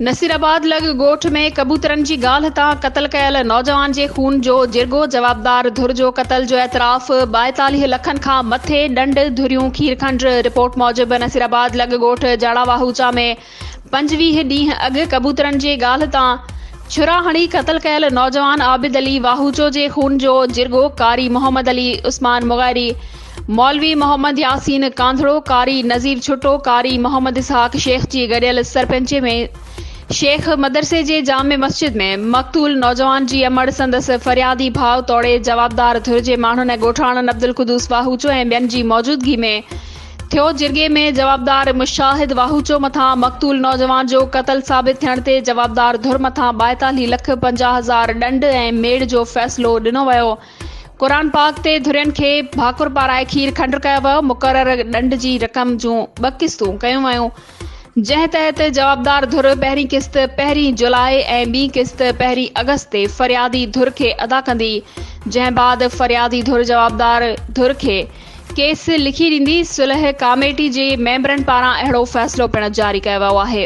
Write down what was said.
نصيرآباد لڳ ڳوٺ ۾ ڪبوترن جي گالهه تان قتل ڪيل نوجوان جي خون جو جرڳو، جوابدار ڌر جو قتل جو اعتراف، ٻائيتاليهه لکن کان مٿي ڏنڊ، ڌريون کيرکنڊ، رپورٽ موجب نصيرآباد لڳ ڳوٺ جاڙاواهوچا ۾ پنجويهه ڏينهن اڳ ڪبوترن جي ڳالهه تان ڇرا هڻي قتل ڪيل نوجوان عابد علي واهوچو جي خون جو جرڳو قاري محمد علي عثمان مغيري، مولوي محمد ياسين ڪانڌڙو، قاري نذير ڇٽو، قاري محمد اسحاق شيخ جي گڏيل سرپنچي ۾ شيخ مدرسي جي جامع مسجد ۾ مقتول نوجوان جي امڙ سندس فريادي ڀاء توڙي جوابدار ڌر جي ماڻهن ڳوٺاڻن عبدالقدوس واهوچو ۽ ٻين جي موجودگي ۾ ٿيو جرڳي ۾ جوابدار مشاهد واهوچو مٿان مقتول نوجوان جو قتل ثابت ٿيڻ تي جوابدار ڌر مٿان ٻائيتالهي لک پنجاهه هزار ڏنڊ ۽ ميڙ جو فيصلو ڏنو ويو قرآن پاڪ تي ڌرين کي ڀاڪر پارائي کير کنڊ ڪيو ويو مقرر ڏنڊ جي رقم جون ٻه قسطون ڪيون ويون جنهن تحت جوابدار ڌر پهرين قسط پهرين جولاء ۽ ٻي قسط پهرين آگسٽ تي فريادي ڌر کي ادا ڪندي جنهن بعد فريادي ڌر جوابدار ڌر کي ڪيس لکي ڏيندي صلح ڪاميٽي جي ميمبرن پاران اهڙو فيصلو پڻ جاري ڪيو ويو آهي.